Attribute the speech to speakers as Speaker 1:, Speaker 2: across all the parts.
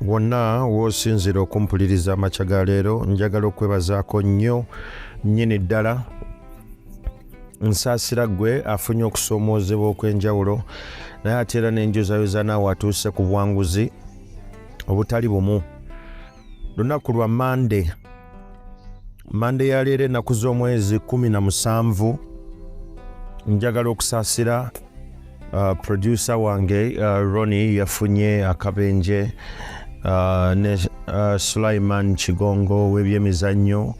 Speaker 1: wonna w'osinzira okumpuliriza amakya ga leero njagala okwebazaako nnyo nnyini ddala nsaasira ggwe afunye okusoomoozebwa okw'enjawulo naye ate era n'enjozayoza naawe atuuse ku bwanguzi obutali bumu lunaku lwa mande mande ya leero ennaku z'omwezi 17 njagala okusaasira Uh, producer wange uh, Ronnie yafunye akabenje uh, ne uh, Sulaiman Kigongo w'ebyemizannyo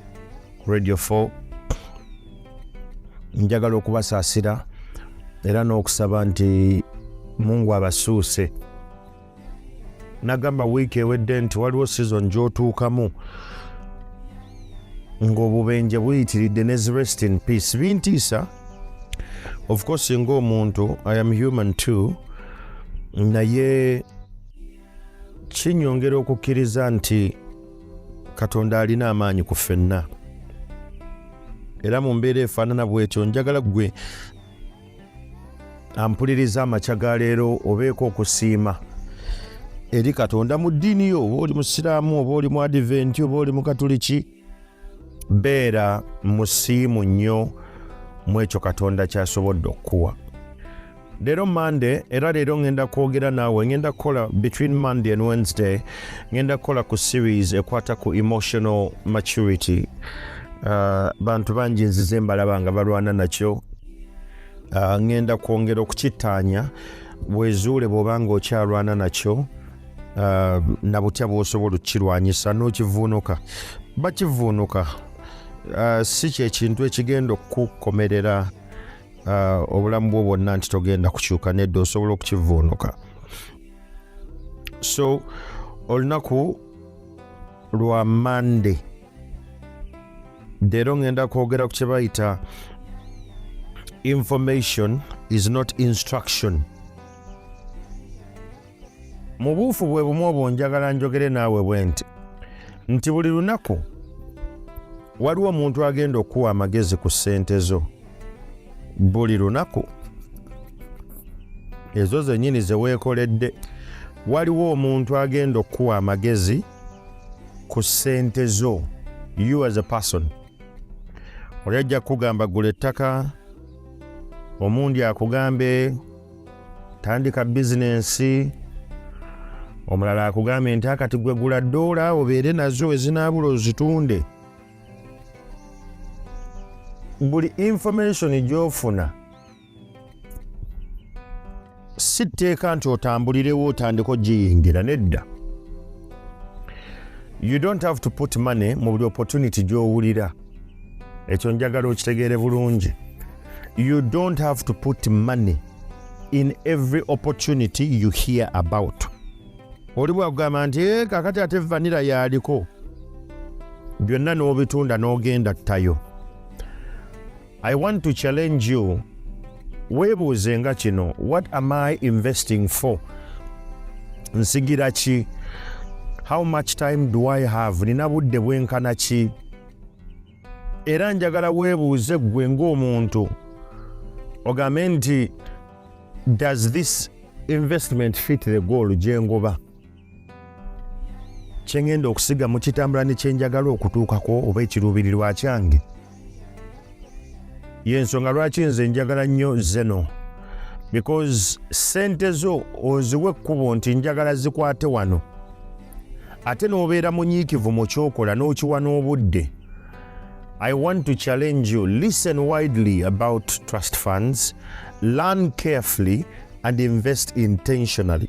Speaker 1: Radio 4 njagala okubasaasira era n'okusaba nti Mungu abasuuse nagamba wiiki ewedde nti waliwo season gyotuukamu ng'obubenje buyitiridde ne zi rest in peace bintiisa of course ng'omuntu i am human too naye kinyongera okukkiriza nti katonda alina amaanyi ku ffenna era mu mbeera efaanana bwetyo njagala gwe ampuliriza amakya ga leero obeeko okusiima eri katonda mu ddiini yo oba oli musiraamu oba oli mu adiventi oba oli mukatuliki beera musiimu nnyo mu ekyo katonda kyasobodde okukuwa leero monday era leero ŋŋenda kwogera naawe ŋŋenda kukola between monday and wednesday ŋŋenda kukola ku series ekwata ku emotional maturity uh, bantu bangi nzize mbalaba nga balwana nakyo ah, ŋŋenda kwongera okukittaanya wezuule bw'oba ng'okyalwana nakyo ah, na butya bw'osobola okukirwanyisa n'okivuunuka bakivuunuka ah, si kyekintu ekigenda okukukomerera obulamu bwo bwonna nti togenda kukyuka nedda osobola okukivuunuka so olunaku lwa mande leero ŋŋenda kwogera ku kye bayita information is not instruction mu buufu bwe bumu obwo njagala njogere naawe bwe nti nti buli lunaku waliwo omuntu agenda okukuwa amagezi ku ssente zo buli lunaku ezo zennyini ze weekoledde waliwo omuntu agenda okukuwa amagezi ku ssente zo you as a person oli ajja kukugamba gula ettaka omundi akugambe tandika bizinensi omulala akugambe nti akati gwe gula doola obeere nazo ezinaabula ozitunde buli information gyofuna si tteeka nti otambulirewo otandika ogiyingira nedda you don't have to put money mu buli opportunity gy'owulira ekyo njagala okitegeere bulungi you don't have to put money in every opportunity you hear about oli bwakugamba nti eh, kakati ate vanira yaliko byonna n'obitunda n'ogenda ttayo I want to challenge you weebuuze nga kino what am i investing for nsigira ki how much time do i have nina budde bwenkana ki era njagala weebuuze ggwe ng'omuntu ogambe nti does this investment fit the goal gyengoba kye ŋŋenda okusiga mu kitambula ne kye njagala okutuukako oba ekiruubirirwa kyange y'ensonga lwaki nze njagala nnyo zeno because sente zo oziwa ekkubo nti njagala zikwate wano ate n'obeera munyiikivu mu kyokola n'okiwa n'obudde i want to challenge you listen widely about trust funds learn carefully and invest intentionally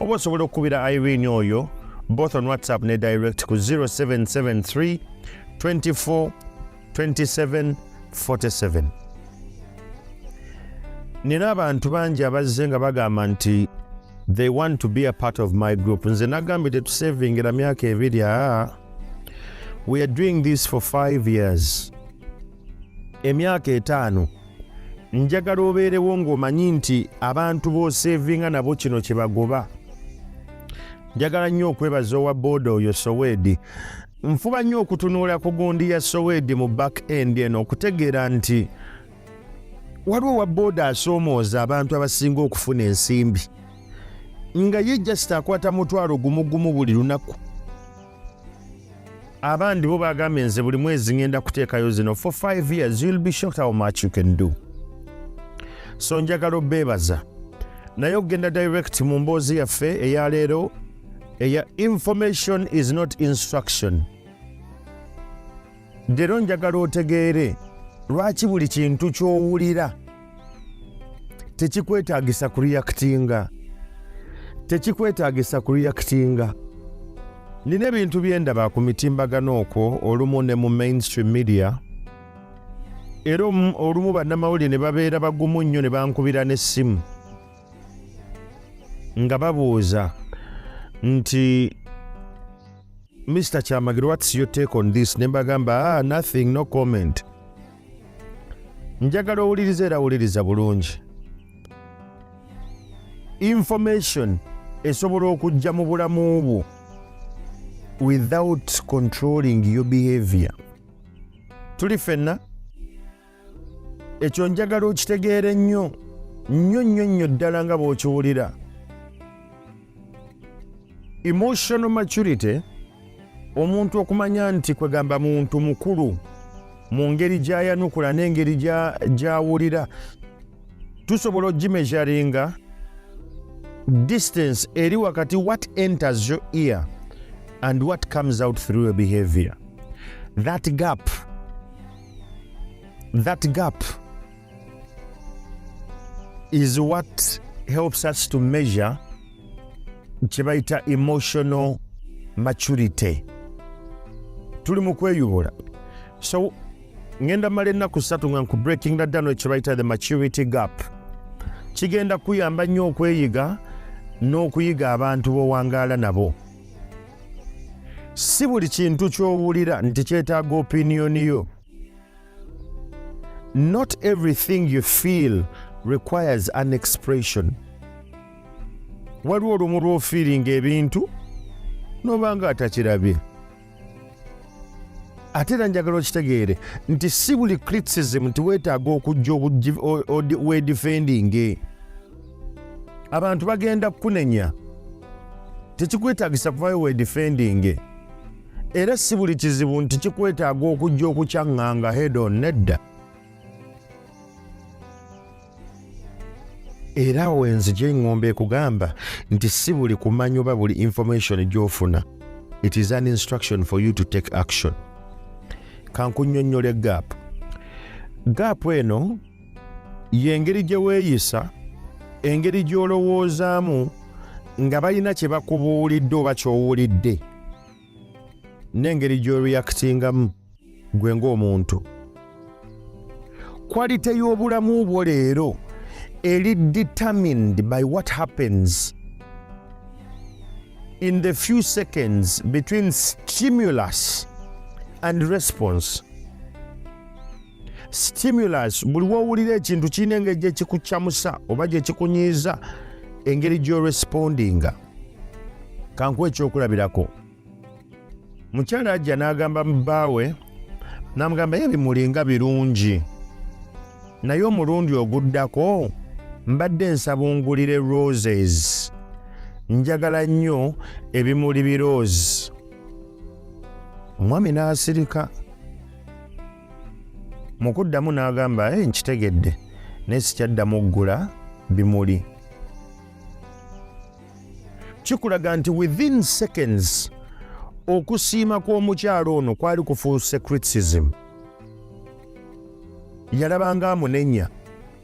Speaker 1: oba osobola okukubira irene oyo both on whatsapp ne direct ku 0773 24 27 47 nina abantu bangi abazze nga bagamba nti they want to be a part of my group nze nagambye tetusevingira myaka ebiri aa we are doing this for five years emyaka etaano njagala obeerewo ng'omanyi nti abantu b'oseevinga nabo kino kye bagoba njagala nnyo okwebaza owa booda oyo soweedi nfuba nnyo okutunuula ku gundi ya soweedi mu back end eno okutegeera nti waliwo owa booda asoomooza abantu abasinga okufuna ensimbi nga ye jasita akwata mutwalo gumugumu buli lunaku abandi bo bagambye nze buli mwezi ngenda kuteekayo zino for 5 years you'll be shocked how much you can do so njagala obeebaza naye okugenda direct mu mboozi yaffe eya leero eya information is not instruction leero njagala otegeere lwaki buli kintu ky'owulira tekikwetagisa kureactinga tekikwetagisa kureactinga nina ebintu byendaba ku mitimbagano okwo olumu ne mu mainstream media era olumu bannamawulire ne babeera bagumu nnyo ne bankubira n'essimu nga babuuza nti mr kyamagiro whats your take on this ne mbagamba ah, nothing no comment njagala owuliriza era wuliriza bulungi information esobola okujja mu bulamu bwo without controlling your behavior tuli fenna ekyo njagala okitegeere nnyo nnyo nnyo nnyo ddala nga bw'okiwulira emotional maturity omuntu okumanya nti kwegamba muntu mukulu mu ngeri gyayanukula n'engeri gyawulira tusobola ogimeasuringa distance eri wakati what enters your ear and what comes out through your behavior that gap that gap is what helps us to measure kyebayita emotional maturity tuli mu kweyubula so ngenda mala ennaku ssatu nga nku breaking the down ekyebayita the maturity gap kigenda kuyamba nnyo okweyiga n'okuyiga abantu bowangaala nabo si buli kintu ky'owulira nti kyetaaga opiniyoni yo not everything you feel requires an expression waliwo olumu lwofiiringa ebintu noba nga atakirabye ate era njagala okitegeere nti si buli criticism nti weetaaga okujja wedifendinge abantu bagenda kukunenya tekikwetaagisa kuvayo wedifendinge era si buli kizibu nti kikwetaaga okujja okukyaŋŋanga hedo nedda era awo enzija eŋŋomba ekugamba nti si buli kumanya oba buli information gy'ofuna it is an instruction for you to take action kankunyonnyola egaapu gaapu eno yengeri gye weeyisa engeri gy'olowoozaamu nga balina kye bakubuulidde oba ky'owulidde n'engeri gy'oreyakitingamu gwe ng'omuntu kwalite y'obulamu bwo leero eri determined by what happens in the few seconds between stimulus and response stimulus buli wowulira ekintu kirina engeri gyekikukyamusa oba gyekikunyiiza engeri gyorespondinga kankuwa ekyokulabirako mukyala ajja n'agamba mubaawe namugamba ye bimulinga birungi naye omulundi oguddako mbadde nsabungulire roses njagala nnyo ebimuli birose omwami n'asirika mu kuddamu n'agamba e nkitegedde naye sikyaddamu okugula bimuli kikulaga nti within seconds okusiima kw'omukyalo ono kwali kufuuse criticism yalabanga amunenya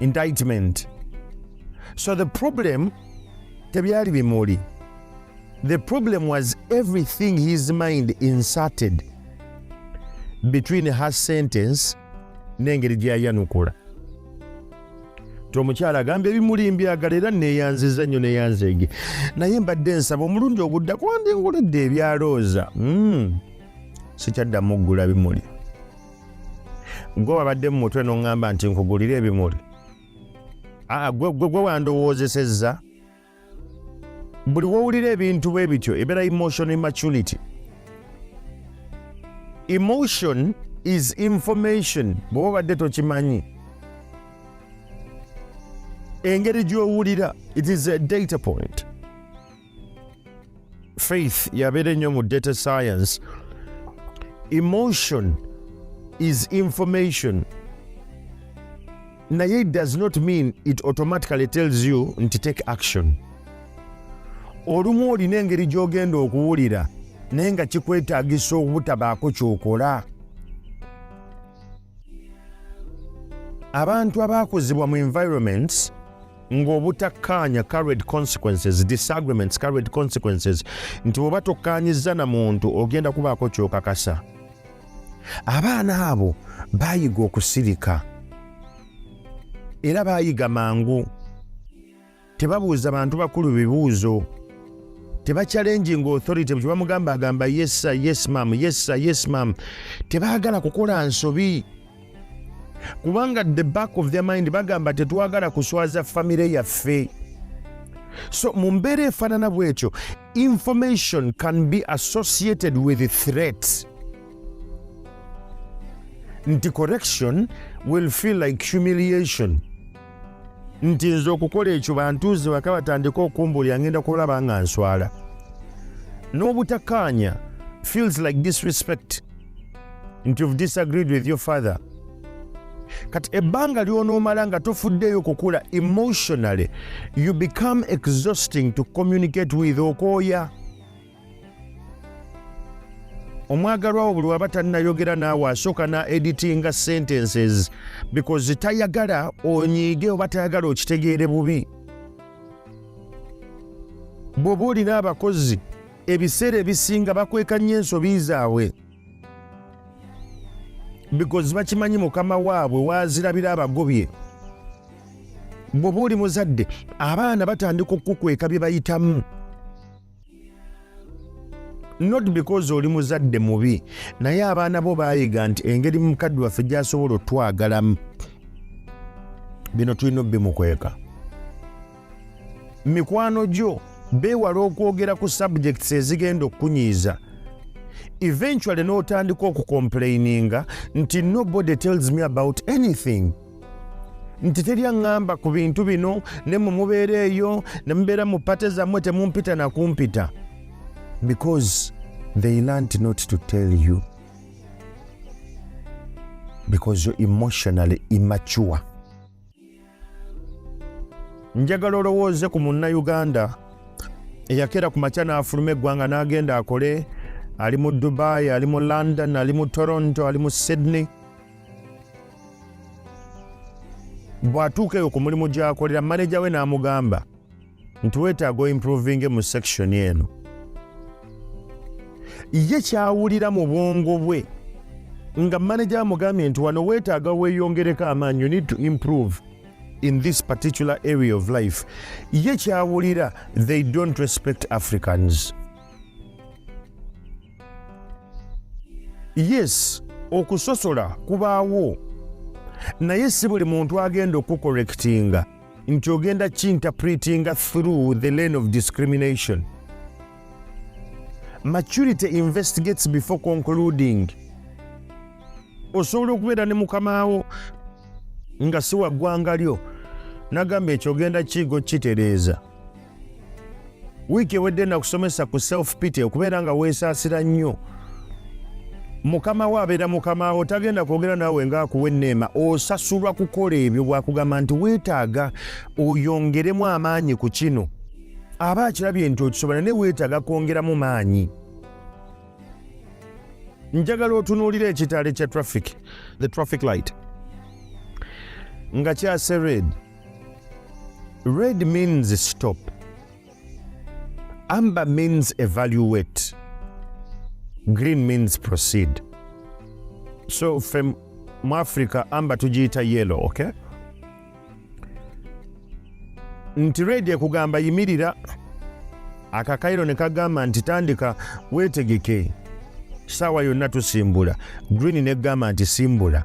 Speaker 1: indictment so the problem tebyali bimuli the problem was everything his mind inserted between her sentence n'engeri gyeyayanukula ti omukyala agamba ebimuli mbyagala era neyanziza nnyo neyanzeege naye mbadde nsaba omulundi ogudda kwandinguledde ebyalooza hmm. sikyaddamu okugula bimuli gwe wabadde mu mutwe noŋŋamba nti nkugulire ebimuli aa gwe gwe wandowoozesezza buli wowulira ebintu bwe bityo ebeera emotion immaturity emotion is information bweoba obadde tokimanyi engeri gy'owulira it is a data point faith yabeera ennyo mu data science emotion is information naye it does not mean it automatically tells you nti take action olumu olina engeri gy'ogenda okuwulira naye nga kikwetaagisa obutabaako kyokola abantu abaakuzibwa mu environments ng'obutakkaanya carried consequences disagreements carried consequences nti bwoba tokkaanyizza na muntu ogenda kubaako kyokakasa abaana abo baayiga okusirika era baayiga mangu tebabuuza bantu bakulu bibuuzo tebakyalenjinga authority bwe bamugamba agamba yesa yes mam yesa yes mam tebaagala kukola nsobi kubanga the back of their mind bagamba tetwagala kuswaza famire yaffe so mu mbeera efaanana bwetyo information can be associated with threat nti correction will feel like humiliation nti nze okukola ekyo bantuuze waka batandika okumbuulira ngenda kulaba nga nswala n'obutakaanya feels like disrespect nti you've disagreed with your father kati ebbanga lyonoomala nga tofuddeeyo kukula emotionally you become exhausting to communicate with okooya omwagalwa wo buli waba tannayogera naawe asooka na editinga sentences because tayagala onyiige oba tayagala okitegeere bubi bw'oba olina abakozi ebiseera ebisinga bakweka nnyo ensobi zaabwe because bakimanyi mukama waabwe waazirabira abagobye bw'oba oli muzadde abaana batandika okukukweka bye bayitamu not because oli muzadde mubi naye abaana bo bayiga nti engeri mukadde waffe gyasobola otwagalamu bino tulina obimukweka mikwano gyo beewala okwogera ku subjects ezigenda okukunyiiza eventually n'otandika okukomplaininga nti nobody tells me about anything nti teri aŋŋamba ku bintu bino ne mwe mubeera eyo ne mubeera mu pate zammwe temumpita na kumpita because they learnt not to tell you because you're emotionally immature njagala olowooze ku munnayuganda eyakeera ku makya n'afuluma eggwanga n'agenda akole ali mu dubai ali mu london ali mu toronto ali mu sydney bw'atuuka eyo ku mulimu gy'akolera maneja we n'amugamba nti weetaaga oimprovinge mu sekishoni eno ye kyawulira mu bwongo bwe nga maneja amugambye nti wano weetaaga weeyongereko amaanyi you need to improve in this particular area of life ye kyawulira they don't respect africans yes okusosola kubaawo naye si buli muntu agenda okukorekitinga nti ogenda kinterpretinga through the lane of discrimination maturity investigates before concluding osobola okubeera ne mukamaawo nga siwa ggwanga lyo nagamba ekyogenda kiigo kitereeza wiiki ewedde nakusomesa ku self pity okubeera nga weesaasira nnyo mukama wo abeera mukama wo tagenda kwogera naawe ngaakuwa enneema osasulwa kukola ebyo bwakugamba nti weetaaga oyongeremu amaanyi ku kino aba akirabye nti okisobola naye weetaaga kwongeramu maanyi njagala otunuulira ekitaale kya traffic the traffic light nga kyase red Red means stop. Amber means evaluate. Green means proceed. So from Africa, amber tujiita yellow, okay? Nti red ekugamba yimirira akakairo ne kagamba nti tandika wetegeke saawa yonna tusimbula green ne gamba nti simbula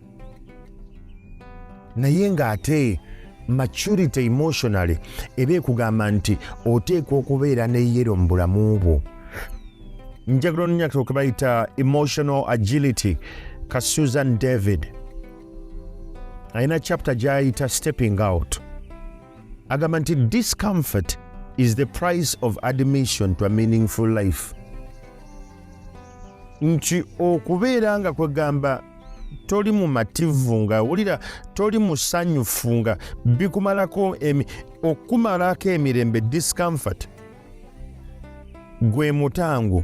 Speaker 1: naye ng'ate maturity emotionally eba ekugamba nti oteekwa okubeera ne yero mu bulamu bwo njagala onyakiro ke bayita emotional agility ka susan david alina chapter gyayita stepping out agamba nti discomfort is the price of admission to a meaningful life nti okubeera nga kwegamba toli mumativu nga wulira toli musanyufu nga bikumalako okukumalako emirembe discomfort gwe mutango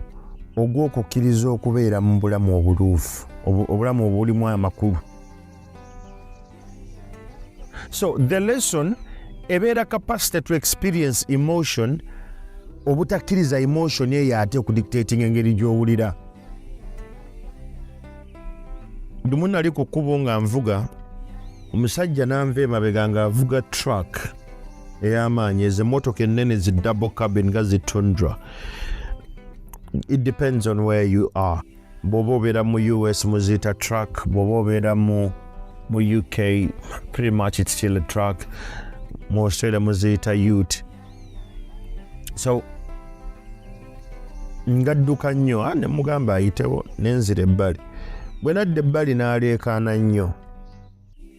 Speaker 1: ogw'okukkiriza okubeera mu bulamu obuluufu obulamu obulimu amakulu so the lesson ebeera capacity to experience emotion obutakkiriza emotion eyo ate okudictating engeri gyowulira lumu nali ku kkubo nga nvuga omusajja nanva emabega ngaavuga truck ey'amaanyi ezo emotoka ennene zi double cabin nga zi tundra it depends on where you are bwoba obeera mu us muziita truck bwoba obeera mu mu uk pretty much it's still a truck mu australia muziita ut so ngadduka nnyo ah, nemugamba ayitewo nenzira ebbali bwe nadda ebbali naleekaana nnyo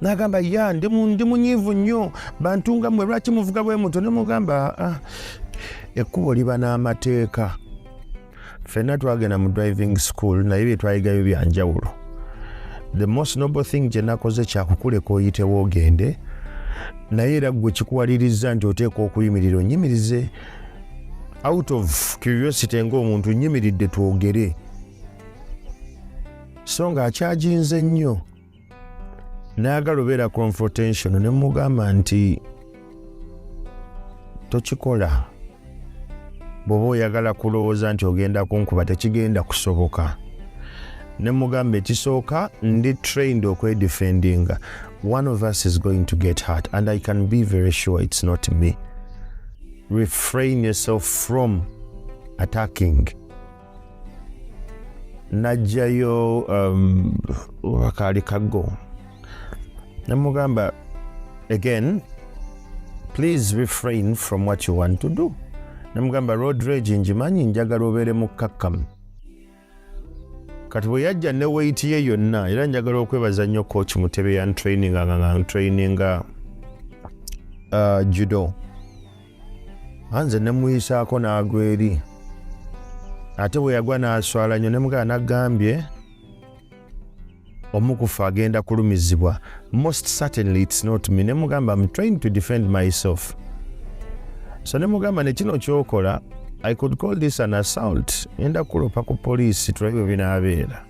Speaker 1: nagamba ya ndi munyiivu nnyo bantu nga mwe lwaki muvuga bwe muto nemugamba ah, ah, ekkubo liba n'amateeka fenna twagenda mu driving school naye byetwayigayo byanjawulo the most noble thing gyenakoze kyakukuleka oyitewo ogende naye era gwe kikuwaliriza nti oteeka okuyimirira onyimirize out of curiosity ngaomuntu nyimiridde twogere so nga akyaginze nnyo nayagala obeera confrontation ne mugamba nti tokikola bwoba oyagala kulowooza nti ogenda kunkuba tekigenda kusoboka ne mugamba ekisooka ndi trained okwedefendinga one of us is going to get heart and i can be very sure it's not me refrain yourself from attacking najjayo um, akaali kaggo nemugamba again please refrain from what you want to do nemugamba road rage njimanyi njagala obeere mukkakkamu kati bwe yajja ne weyiti ye yonna era njagala okwebaza nnyo coach mutebe yantraininga nga ntraininga uh, judo anze ne muyisaako n'agwa eri ate bwe yagwa n'aswala nnyo ne mugala nagambye omukufa agenda kulumizibwa most certainly its not me ne mugamba am trying to defend myself so ne mugamba ne kino kyokola i could call this an assault enda kulopa ku poliisi tulabye binaabeera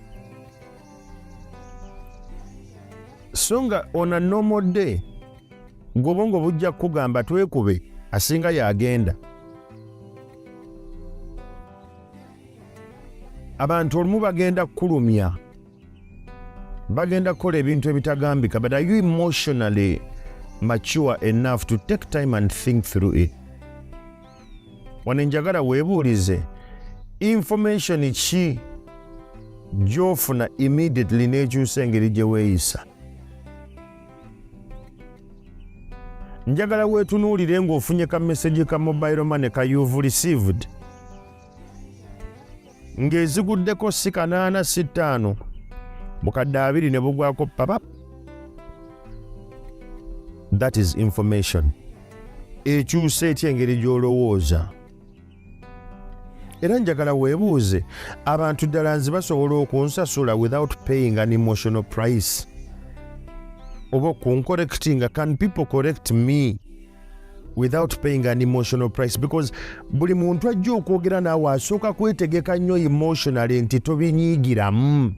Speaker 1: so nga on a normal day gwobongo bujja kukugamba twekube asinga yagenda abantu olumu bagenda kukulumya bagenda kukola ebintu ebitagambika but are you emotionally mature enough to take time and think through it wano enjagala weebuulize information ki gyofuna immediately n'ekyusa engeri gye weeyisa njagala weetunuulire ng'ofunye ka mesegi ka mobile money ka youve received ng'eziguddeko si kanaana si ttaano bukadde abiri ne bugwako papa that is information ekyusa etya engeri gy'olowooza era njagala weebuuze abantu ddala nze basobola okunsasula without paying an emotional price oba okunkorectinga can people correct me without paying an emotional price because buli muntu ajja okwogera naawe asooka kwetegeka nnyo emotionally nti tobinyiigiramu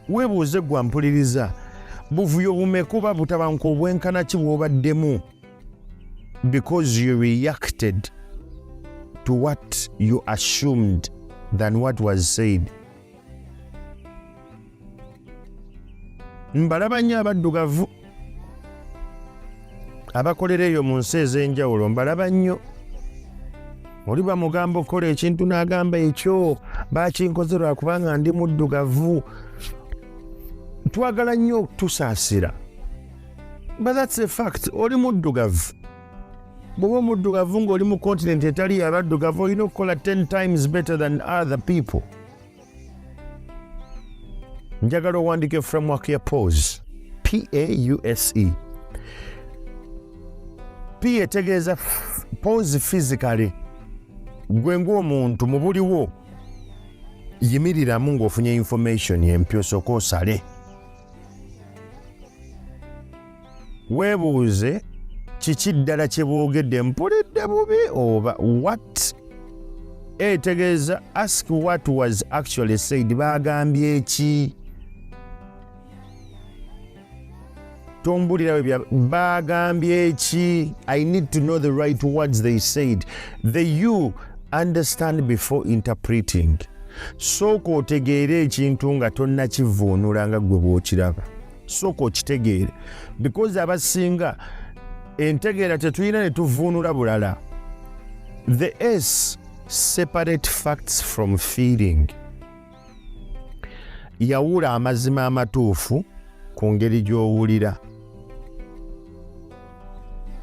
Speaker 1: weebuuze gwampuliriza buvuyo bumekuba butabanka obwenkana ki bwobaddemu because you reacted to what you assumed than what was said mbalaba nnyo abaddugavu abakolera eyo mu nsi ez'enjawulo mbalaba nnyo oli bamugamba okukola ekintu n'agamba ekyo bakinkoze lwa kubanga ndi muddugavu twagala nnyo okutusaasira but that's a fact oli muddugavu bwoba omuddugavu ng'oli mu continent etali yabaddugavu olina okukola 10 times better than other people njagala owandike framework ya pause pause p etegeeza pause physically gwe ng'omuntu mu buliwo yimiriramu ng'ofunye information empya osooka osale weebuuze kiki ddala kye boogedde mpulidde bubi oba wat etegeeza ask what was actually said baagambye eki tombulirawe bya baagambye eki i need to know the right words they said the you understand before interpreting sooka otegeere ekintu nga tonnakivuunula nga ggwe bw'okiraba sooka okitegeere because abasinga entegeera tetulina ne tuvuunula bulala the s separate facts from feeling yawula amazima amatuufu ku ngeri gy'owulira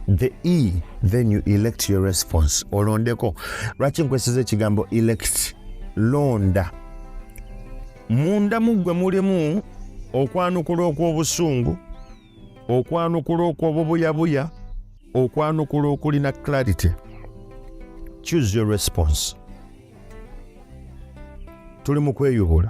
Speaker 1: the e then you elect your response olondeko lwaki nkwesiza ekigambo elect londa munda muggwe mulimu okwanukula okw'obusungu okwanukula okw'obubuyabuya okwanukula okulina clarity choose your response tuli mu kweyubula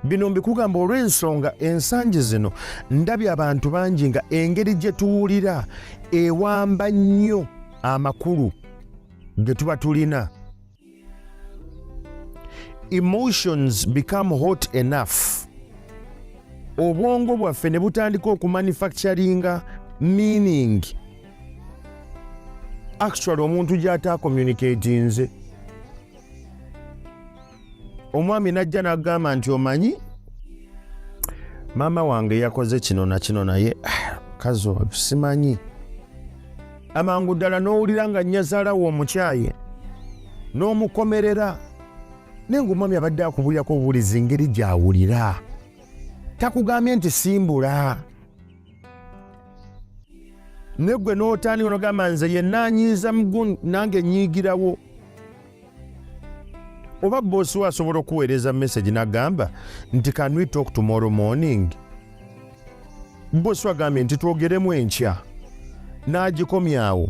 Speaker 1: bino mbikugamba olw'ensonga ensangi zino ndabye abantu bangi nga engeri gye tuwulira ewamba nnyo amakulu ge tuba tulina emotions become hot enough obwongo bwaffe ne butandika okumanufacturinga meaning actually omuntu gy'ataakomunikatinze omwami najja nagamba nti omanyi maama wange yakoze kino na kino naye ah, kazi oyo simanyi amangu ddala n'owulira nga nyazaala wo omukyaye n'omukomerera naye ngaomwami abadde akubulirako obuwulizi ngeri gyawulira takugambye nti simbula negwe n'otandika nogamba nze yenna anyiiza muguni nange nyiigirawo oba boosi we asobola okuweereza message nagamba nti can we talk tomorrow morning boosi agambye nti twogeremu enkya n'agikomyawo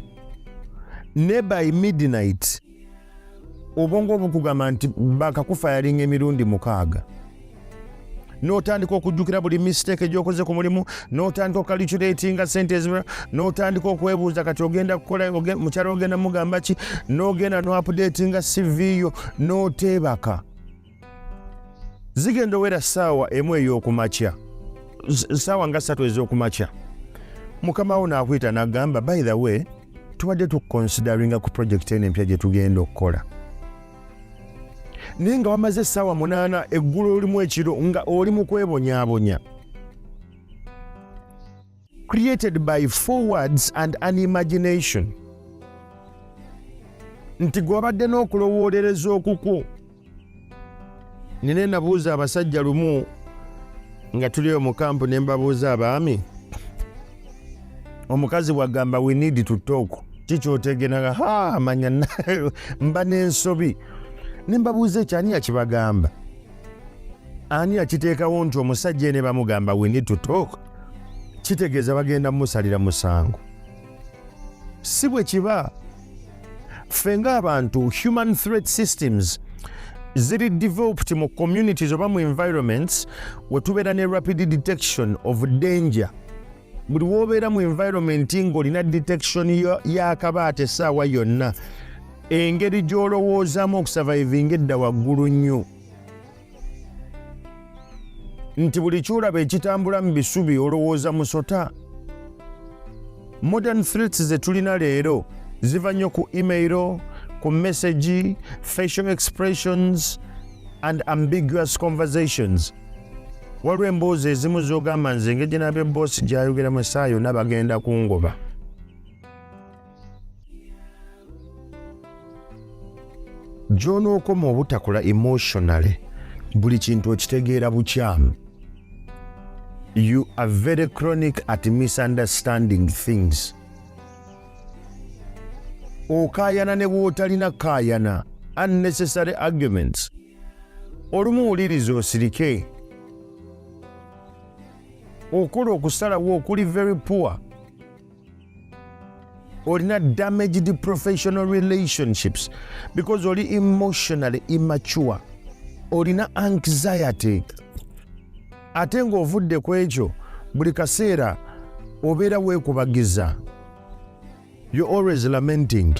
Speaker 1: ne by midnight obwongo obukugamba nti bakakufa yalinga emirundi mukaaga notandika okujjukira buli mistake gyokoze ku mulimu notandika okalculatinga sente ezima notandika okwebuuza kati ogenda kukola mukyalo ogenda mugamba ki nogenda noapudatinga cv yo noteebaka zigenda owera saawa emu eyokumakya saawa nga satu ezokumakya mukama wo nakuyita nagamba by the way tubadde tukonsideringa ku projekiti eno empya gyetugenda okukola naye nga wamaze essaawa munaana eggulu olimu ekiro nga oli mu kwebonyabonya created by forwards and an imagination nti gwabadde n'okulowoolereza okukwo nina nabuuza abasajja lumu nga tuliyo mu kampu ne mbabuuza abaami omukazi bwagamba we need to talk kikyotegenaga ha amanya mba n'ensobi ne mbabuuza ekyo ani yakibagamba ani yakiteekawo nti omusajja ene bamugamba we need to talk kitegeeza bagenda mumusalira musango si bwe kiba ffe ng'abantu human threat systems ziri developed mu communities oba mu environments wetubeera ne rapid detection of danger buli wobeera mu environment ng'olina detection y'akabaata essaawa yonna engeri gy'olowoozamu okusavaivinga edda waggulu nnyo nti buli kyolaba ekitambula mu bisubi olowooza musota modern threats ze tulina leero ziva nnyo ku emailo ku message facial expressions and ambiguous conversations waliwo emboozi ezimu zogamba nze engeri gyenabye boosi gyayogeramu esaawa yonna bagenda kungoba gyonookoma obutakola emotionally buli kintu okitegeera bukyamu you are very chronic at misunderstanding things okayana ne bwotalina kayana unnecessary arguments olumu wuliriza osirike okola okusalawo okuli very poor olina damaged professional relationships because oli emotionally immature olina anxiety ate ng'ovudde ku ekyo buli kaseera obeera weekubagiza you always lamenting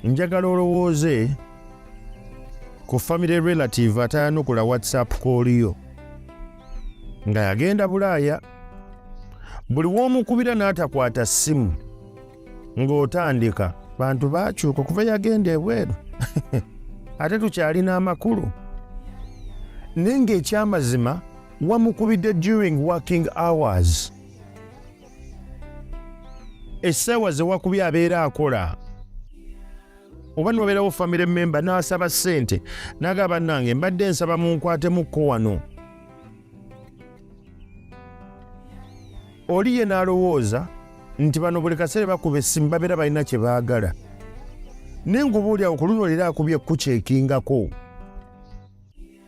Speaker 1: njagala olowooze ku family relative atayanukula whatsapp kooliyo nga yagenda bulaaya buli w'omukubira n'atakwata ssimu ng'otandika bantu bakyuka okuva yagenda ebweru ate tukyalina amakulu naye ng'ekyamazima wamukubidde during working hours essaawa ze wakubye abeera akola oba nobeerawo famire memba n'asaba ssente naga bannange mbadde nsaba munkwatemukko wano oli ye n'alowooza nti bano buli kaseera bakuba essimu babeera balina kye baagala naye ngubuulyawo ku luno leero akubye kukyeekingako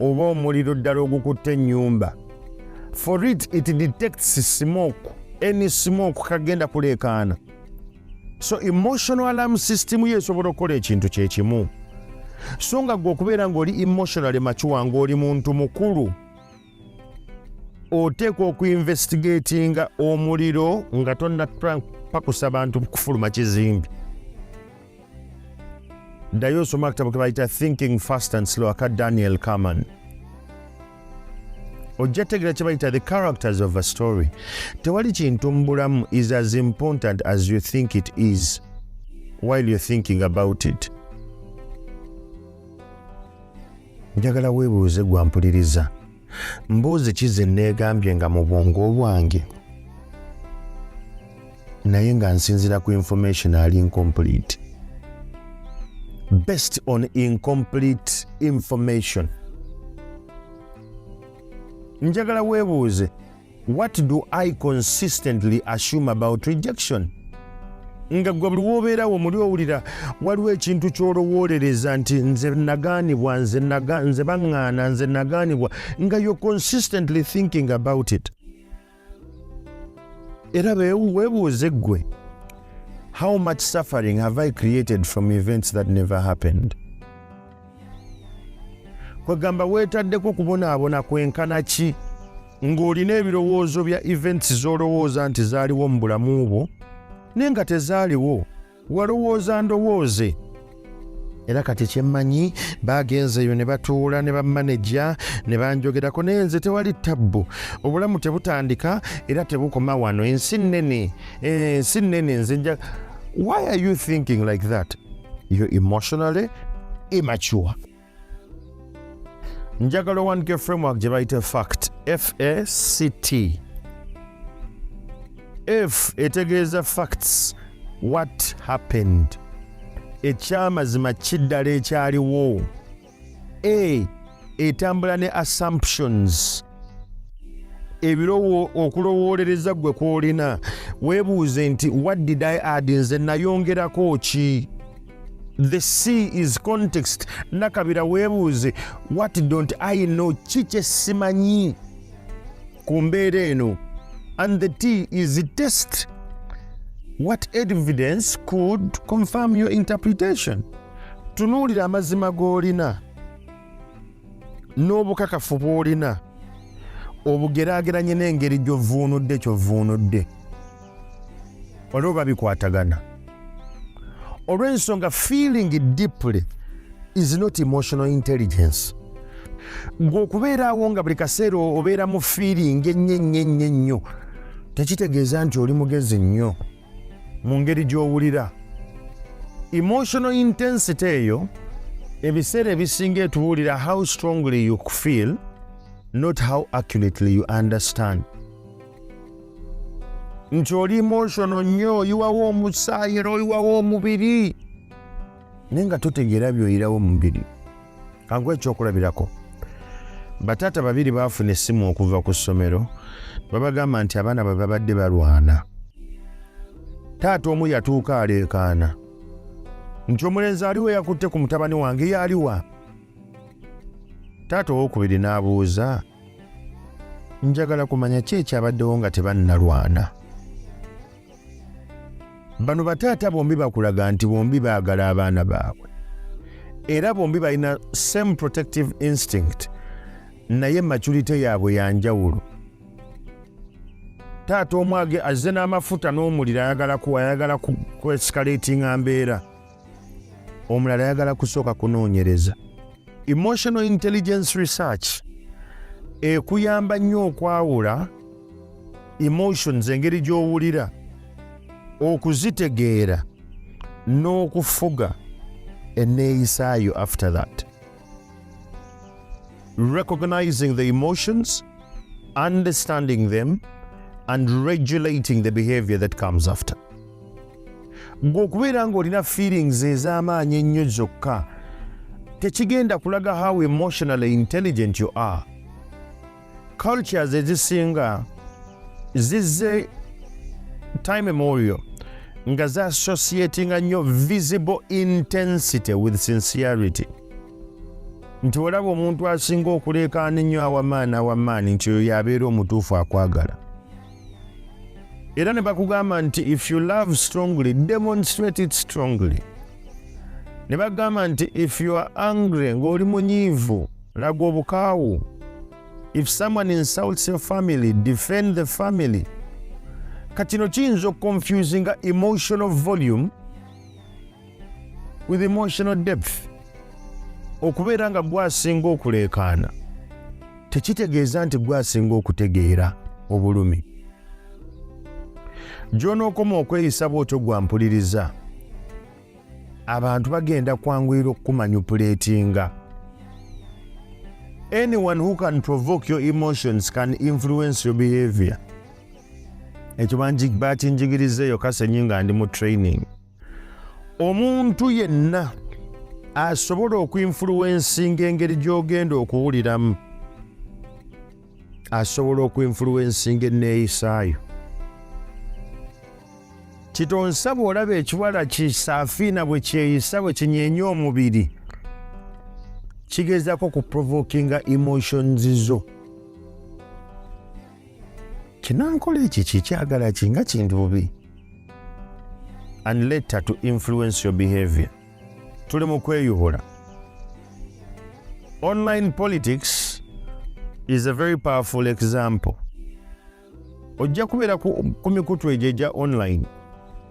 Speaker 1: oba omuliro ddala ogukutte ennyumba for it it detects smoke any smoke kagenda kuleekaana so emotional alarm system yo esobola okukola ekintu kyekimu so nga gwe okubeera ng'oli emotionally macuwa ng'oli muntu mukulu oteekwa okuinvestigatinga omuliro nga tonna pakusa bantu kufuluma kizimbi ddayo osoma akatabo kebayita thinking fast and slow aka daniel carman ojja tegera kyebayita the characters of a story tewali kintu mubulamu is as important as you think it is while you're thinking about it njagala weebuuze gwampuliriza mbuuzi ki ze nneegambye nga mu bwongo obwange naye nga nsinzira ku information ali incomplete based on incomplete information njagala weebuuze What do I consistently assume about rejection? nga gwe buli wobeerawo muli owulira waliwo ekintu kyolowoolereza nti nze nagaanibwa nze baŋŋaana nze nagaanibwa nga yo consistently thinking about it era webuuze ggwe how much suffering have i created from events that never happened kwegamba weetaddeko kubonaabona kwenkana ki ng'olina ebirowoozo bya events z'olowooza nti zaaliwo mu bulamu bwo naye nga tezaaliwo walowooza ndowooze era kati kyemmanyi baagenzeeyo ne batuula ne bamaneja ne banjogerako naye nze tewali tabbu obulamu tebutandika era tebukoma wano ensi nnene eh, ensi nnene nze nja why are you thinking like that you're emotionally immature njagala owandike framework gye bayita fact fact f etegeeza facts what happened ekyamazima kiddala ekyaliwo a etambula ne assumptions ebirowo okulowoolereza gwe kwolina weebuuze nti what did i add nze nayongerako ki the sea is context nakabira weebuuze what don't i know ki kyesimanyi ku mbeera eno and the t is test what evidence could confirm your interpretation tunuulira amazima g'olina n'obukakafu bw'olina obugeraageranye n'engeri gy'ovvuunudde kyovvuunudde waliwo babikwatagana olw'ensonga feeling deeply is not emotional intelligence gwe okubeeraawo nga buli kaseera obeera mu feeling ennyo ennyo ennyo ennyo tekitegeeza nti oli mugezi nnyo mu ngeri gy'owulira emotional intensity eyo ebiseera ebisinga etubuulira how strongly you feel not how accurately you understand nti oli emotional nnyo oyiwawo omusaayi era oyiwawo omubiri naye nga totegeera byoyirawo omubiri kangu ekyokulabirako bataata babiri baafuna essimu okuva ku ssomero babagamba nti abaana bwe babadde balwana taata omu yatuuka aleekaana nti omulenzi aliwo yakutte ku mutabani wange yaliwa taata owokubiri n'abuuza njagala kumanya ki ekyabaddewo nga tebannalwana bano bataata bombi bakulaga nti bombi baagala abaana baabwe era bombi balina same protective instinct naye maculite yaabwe yanjawulo taata omwage azze n'amafuta n'omuliro ayagala ayagala kwesikareetinga mbeera omulala ayagala kusooka kunoonyereza emotional intelligence research ekuyamba nnyo okwawula emotions engeri gy'owulira okuzitegeera n'okufuga enneeyisaayo after that Recognizing the emotions, understanding them, and regulating the behavior that comes after. Gwe okubeera ng'olina feelings ez'amaanyi ennyo zokka tekigenda kulaga how emotionally intelligent you are. cultures ezisinga zizze time immemorial nga za associatinga nnyo visible intensity with sincerity nti olaba omuntu asinga okuleekaana ennyo awamaani awamaani nti oyo yabeera omutuufu akwagala era ne bakugamba nti if you love strongly demonstrate it strongly ne bagamba nti if you are angry ng'oli munyiivu laga obukaawu if someone insults your family defend the family katino kiyinza okuconfusinga emotional volume with emotional depth okubeera nga gwasinga okuleekaana tekitegeeza nti gwasinga okutegeera obulumi gy'onookoma okweyisa bw'otyo gwampuliriza abantu bagenda kwanguyira okukumanyupuleetinga anyone who can provoke your emotions can influence your behavior ekyo bakinjigiriza eyo kasenyi nga ndi mu training omuntu yenna asobola okuinfuluwensinga engeri gy'ogenda okuwuliramu asobola okuinfuluwensinga enneeyisaayo kitonsa bw'olaba ekiwala kisaafiina bwe kyeyisa bwe kinyeenya omubiri kigezako ku provokinga emotions zo kinankola ekyo kyekyagala kinga kintu bubi and later to influence your behavior tuli mu kweyubula online politics is a very powerful example ojja kubeera ku mikutu egyo egya online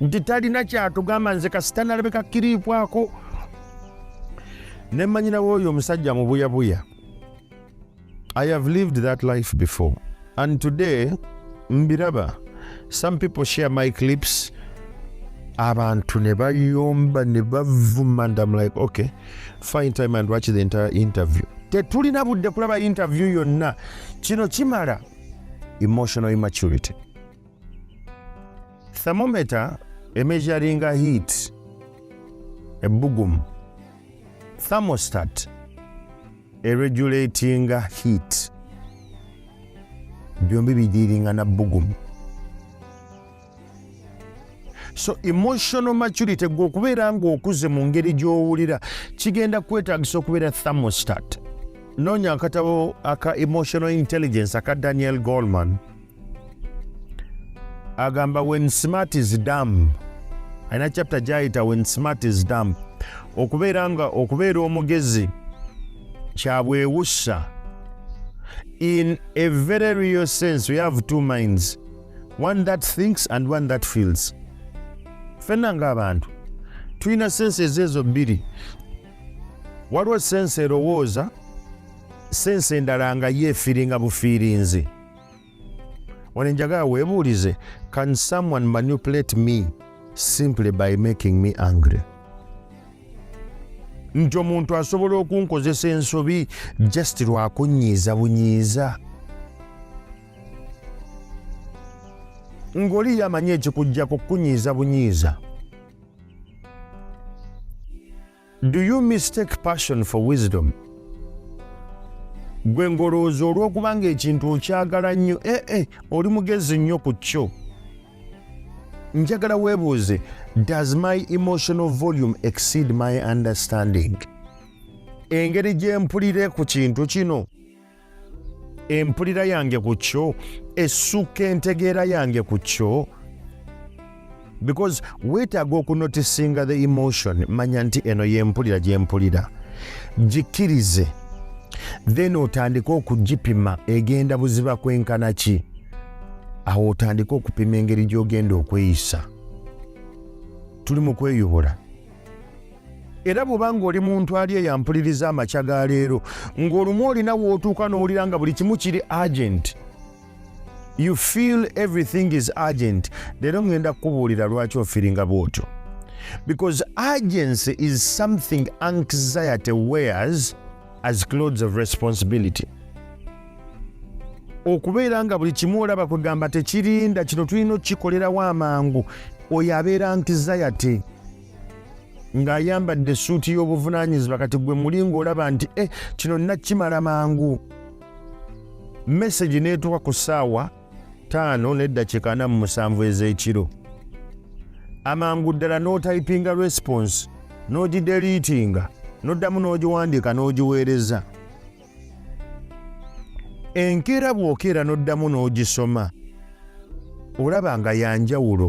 Speaker 1: nti talina kyatugamba nze kasita nalabeka kiriikwako nemanyirawo oyo omusajja mubuyabuya i have lived that life before and today mbiraba some people share my clips abantu ne bayomba ne bavuma and am like okay fine time and watch the entire interview tetulina budde kulaba interview yonna kino kimala emotional immaturity thermometer emeasuringa heat ebbugumu thermostat eregulatinga heat byombi bidiiringa na bbugumu so emotional maturity gwe okubeera ng'okuze mu ngeri gy'owulira kigenda kwetagisa okubeera thermostat noonya akatabo aka emotional intelligence aka daniel goldman agamba when smart is dam alina chapter gyayita when smart is dam okubeera nga okubeera omugezi kyabwewussa in a very real sense we have two minds one that thinks and one that feels fenna ngaabantu tulina sense ezo ezo bbiri waliwo sense erowooza sense endala nga yeefiringa bufiirinzi wano enjagala webuulize can someone manipulate me simply by making me angry nti omuntu asobola okunkozesa ensobi just lwakunyiiza bunyiiza ng'oli yamanyi ekikujjako kukunyiiza bunyiiza Do you mistake passion for wisdom? Gwe ngolowooza olw'okuba ng'ekintu okyagala nnyo ee eh, eh, oli mugezi nnyo ku kyo. Njagala weebuuze, does my emotional volume exceed my understanding? Engeri gye mpulire ku kintu kino. empulira yange ku kyo essuka entegeera yange ku kyo because weetaaga okunotisinga the emotion manya nti eno yempulira gyempulira gikkirize then otandike okugipima egenda buziba kwenkana ki awo otandike okupima engeri gy'ogenda okweyisa tuli mu kweyubula era bw'oba ng'oli muntu ali eyampuliriza amakya ga leero ng'olumu olina w'otuuka n'owulira nga buli kimu kiri agenti you feel everything is agent leero ngenda kukubuulira lwaki ofiringa bwotyo because agency is something anxiety wears as clothes of responsibility okubeera nga buli kimu olaba kwegamba tekirinda kino tulina okukikolerawo amangu oyo abeera anxiety ng'ayambadde essuuti y'obuvunaanyizibwa kati gwe muli ng'olaba nti e kino nakimala mangu mesegi n'etuuka ku ssaawa ttaano n'eddakiika ana mu musanvu ez'ekiro amangu ddala n'otayipinga response n'ogideliitinga n'oddamu n'ogiwandiika n'ogiweereza no enkeera bw'okeera n'oddamu n'ogisoma olaba nga yanjawulo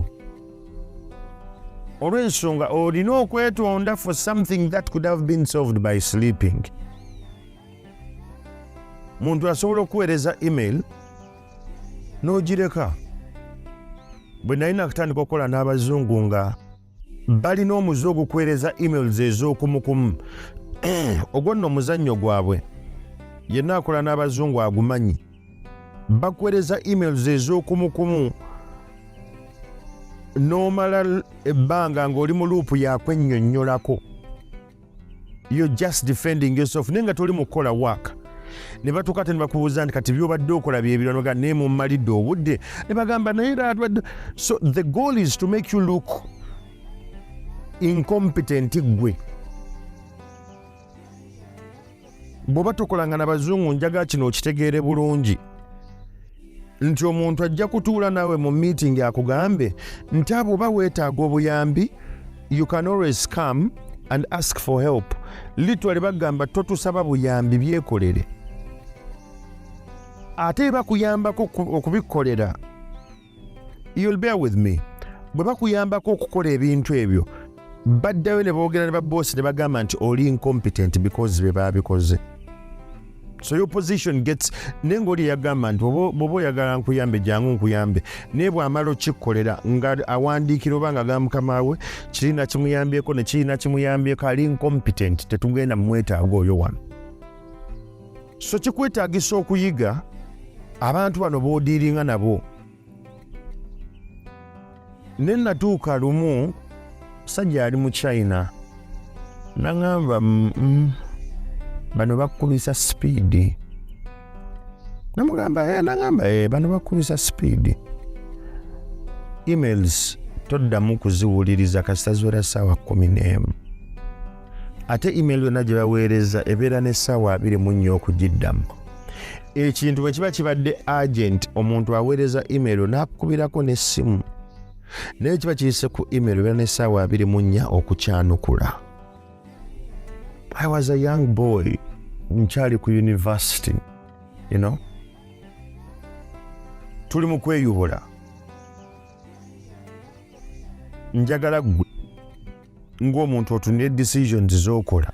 Speaker 1: olw'ensonga olina okwetonda for something that could have been solved by sleeping muntu asobola okuweereza email n'ogireka bwe nali nakutandika okukola n'abazungu nga balina omuze ogukwereza emails ez'okumukumu eh, ogwo nno omuzannyo gwabwe yenna akola n'abazungu agumanyi bakwereza emails ez'okumukumu n'omala ebbanga ng'oli mu luupu yakwennyonnyolako yo just defending yourself naye nga toli mukukola work ne batuuka te ne bakubuuza nti kati byobadde okola byebiranoga naye mumalidde obudde ne bagamba naye ratwadde so the goal is to make you look incompetent gwe bwoba tokolanga na bazungu njaga kino okitegeere bulungi nti omuntu ajja kutuula naawe mu meeting akugambe nti abo oba weetaaga obuyambi you can always come and ask for help litwale bagamba totusaba buyambi byekolere ate bakuyambako okubikolera you'll bear with me bwe bakuyambako okukola ebintu ebyo baddayo ne boogera ne baboosi ne bagamba nti oli incompetent because be baabikoze so your position gets naye ngaoli eyagamba nti bwoba oyagala nkuyambe jangu nkuyambe naye bwamala okikkolera nga awandiikira oba nga ga mukama we kirina kimuyambyeko nekirina kimuyambyeko ali incompetent tetugenda mumwetaaga oyo wano so kikwetagisa okuyiga abantu bano bodiiringa nabo ne natuuka lumu sajja ali mu china naŋamba bano bakubisa sipiidi namugamba eh, naŋamba eh, bano bakubisa sipiidi emails toddamu kuziwuliriza kasita ziwera saawa kumi n'emu ate email yonna gye baweereza ebeera n'essaawa abiri mu nnya okugiddamu ekintu bwe kiba kibadde agent omuntu aweereza email n'akukubirako n'essimu naye kiba kiyise ku email ebeera n'essaawa abiri mu nnya okukyanukula i was a young boy nkyali ku university you know tuli mu kweyubula njagala gwe ng'omuntu otunire decisions z'okola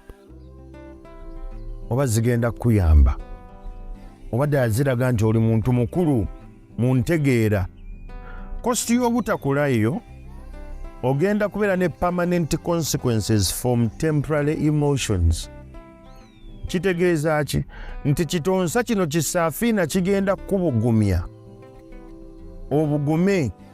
Speaker 1: oba zigenda kukuyamba oba ddala ziraga nti oli muntu mukulu mu ntegeera kositi y'obutakulayo ogenda kubeera ne permanent consequences from temporary emotions kitegeeza ki nti kitonsa kino kisafiina kigenda kukubugumya obugume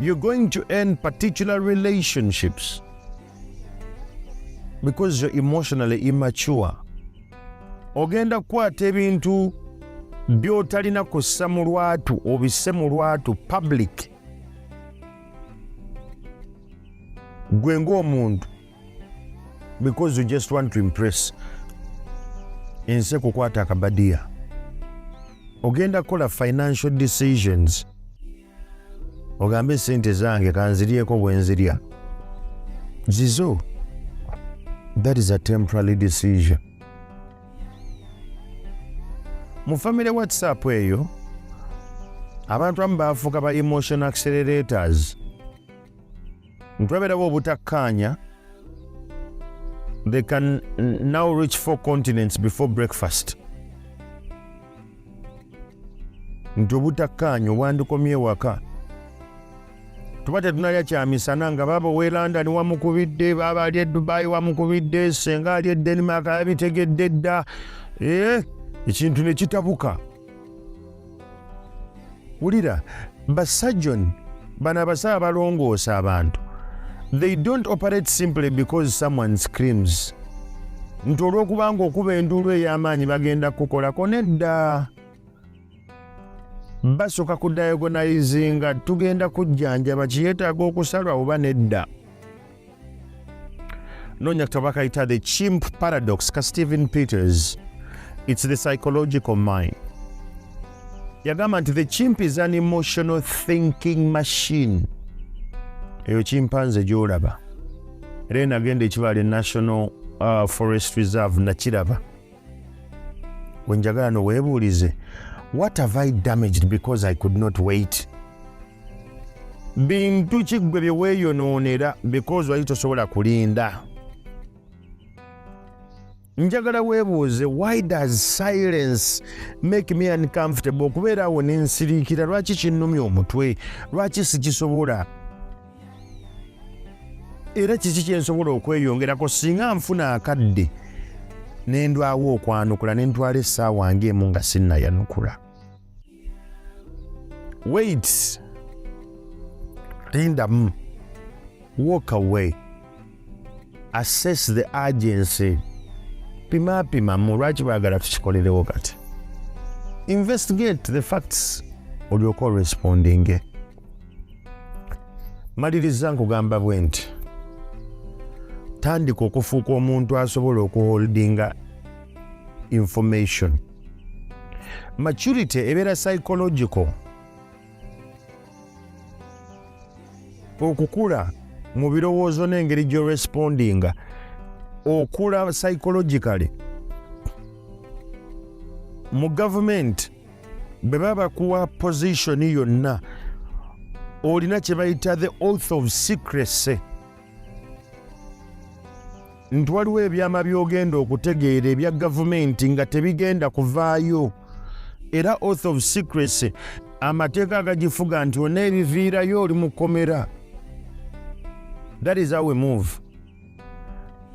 Speaker 1: you're going to end particular relationships because you're emotionally immature ogenda kukwata ebintu byotalina kussa mu lwatu obisse mu lwatu public gwe ng'omuntu because you just want to impress ensi ekukwata akabadiya ogenda kukola financial decisions ogambe sente zange kanziryeko bwenzirya zizo that is a temporary decision mu family whatsapp eyo abantu amu bafuuka ba emotion accelerators ntwaberawo obutakkaanya they can now reach four continents before breakfast nti obutakkaanya obwandikomye ewaka tuba tetunalya kyamisana nga baaba owe london wamukubidde baaba ali edubayi wamukubidde senga ali edenmark yabitegedde dda eh, ekintu nekitabuka wulira basajoni bano abasaba balongoosa abantu they don't operate simply because someone screams nti olwokubanga okuba enduulu ey'amaanyi bagenda kukolako nedda basooka ku diagonaizinga tugenda kujjanjaba kiyetaaga okusalwa oba nedda nonya katabo bakayita the chimp paradox ka stephen peters its the psychological mind yagamba nti the chimp is an emotional thinking machine eyo kimpanze gyolaba era enagenda ekibaali national uh, forest reserve nakiraba wenjagala no webuulize what have i damaged because i could not wait bintu kiggwe bye weeyonoonera because wali tosobola kulinda njagala weebuuze why does silence make me uncomfortable okubeera awo nensiriikira lwaki kinnumya omutwe lwaki sikisobola era kiki kyensobola okweyongerako singa nfuna akadde nendwawo okwanukula nentwala essaawa ngaemu nga sinayanukula wait lindamu walk away assess the agency pimapimamu lwaki bagala tukikolerewo kati investigate the facts olyoka orespondinge maliriza nkugamba bwe nti tandika okufuuka omuntu asobola okuholdinga information maturity ebeera psychological okukula mu birowoozo n'engeri gyorespondinga okula psychologically mu gavumenti bwe baba bakuwa position yonna olina kye bayita the oath of secrecy nti waliwo ebyama by'ogenda okutegeera ebya gavumenti nga tebigenda kuvaayo era oath of secrecy amateeka agagifuga nti ona ebiviirayo oli mukomera that is our move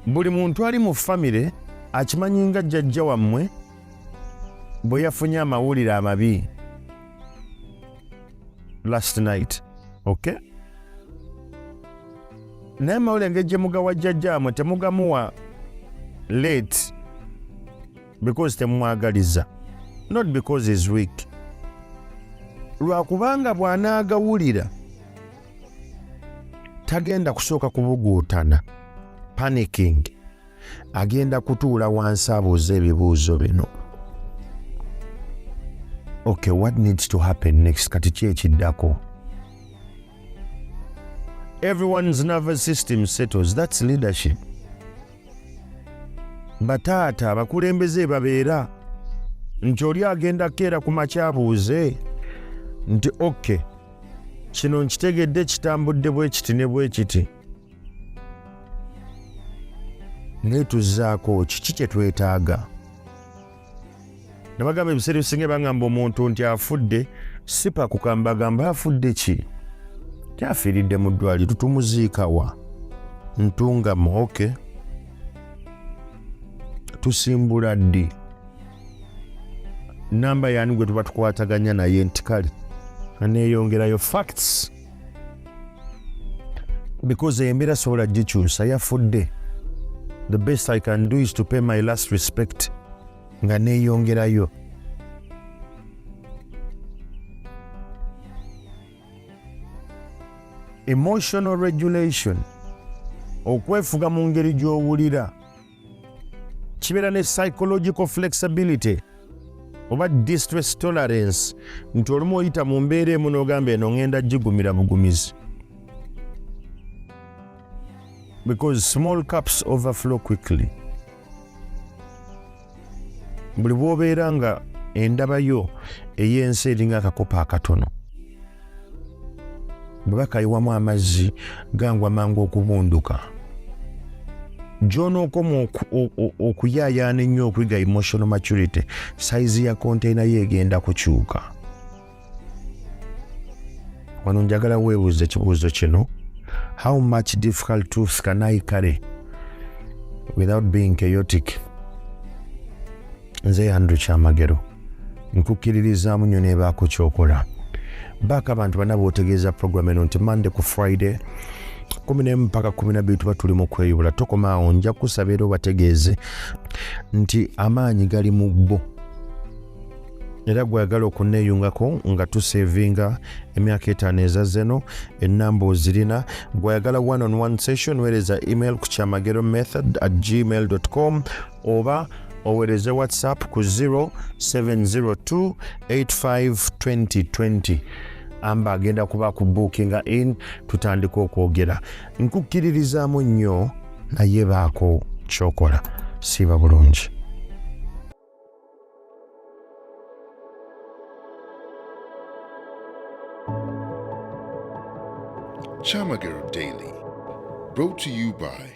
Speaker 1: buli muntu ali mu famire akimanyi nga jjajja wammwe bwe yafunye amawulire amabi last night okay naye amawulire ngeri gye mugawa jjajjaamwe temugamuwa late because temumwagaliza not because is weak lwakubanga bw'anaagawulira tagenda kusooka kubuguutana panicking agenda kutuula wansi abuuza ebibuuzo bino okay what needs to happen next kati ki ekiddako everyone's nervous system settles that's leadership bataata abakulembeze babeera nti oli agenda keera ku makyabuuze nti oke kino nkitegedde kitambudde bwekiti ne bwekiti naye tuzzaako kiki kye twetaaga nabagamba ebiseera ebisinga bagamba omuntu nti afudde sipa kukambagamba afudde ki kyafiiridde mu ddwali tutumuziikawa ntungamu oke tusimbula ddi namba yani gwe tuba tukwataganya naye nti kale aneeyongerayo facts because embeera sobola gikyusa yafudde the best i can do is to pay my last respect nga neyongerayo emotional regulation okwefuga mu ngeri gy'owulira kibeera ne psychological flexibility oba distress tolerance nti olumu oyita mu mbeera emu n'ogamba eno ngenda gigumira bugumizi because small cups overflow quickly buli bwobeera nga endaba yo ey'ensi eringa akakopo akatono bwe bakayiwamu amazzi gangwa mangu okubunduka gyonookoma okuyaayaana ennyo okuyiga emotional maturity sayizi ya konteyina yo egenda kukyuka wano njagala weebuuza ekibuuzo kino how much difficult truths can i carry without being chaotic nze yandre kyamagero nkukkiririzaamu nnyo nebaako kyokola baako abantu bana bootegeeza programu eno nti mande ku friday kumi nemu mpaka kumi nabiri tuba tuli mu kweyubula tokoma awo nja kusaba era obategeeze nti amaanyi gali mu bo era gweyagala okuneyungako nga tusevinga emyaka etaano ezazeno enamba ozirina gweyagala one on one session wereza email ku kyamagero method at gmail com oba owereze whatsapp ku 0702852020 amba agenda kuba ku bookinga in tutandika okwogera nkukkiririzaamu nnyo naye baako kyokola siiba bulungi
Speaker 2: Chamagero Daily, brought to you by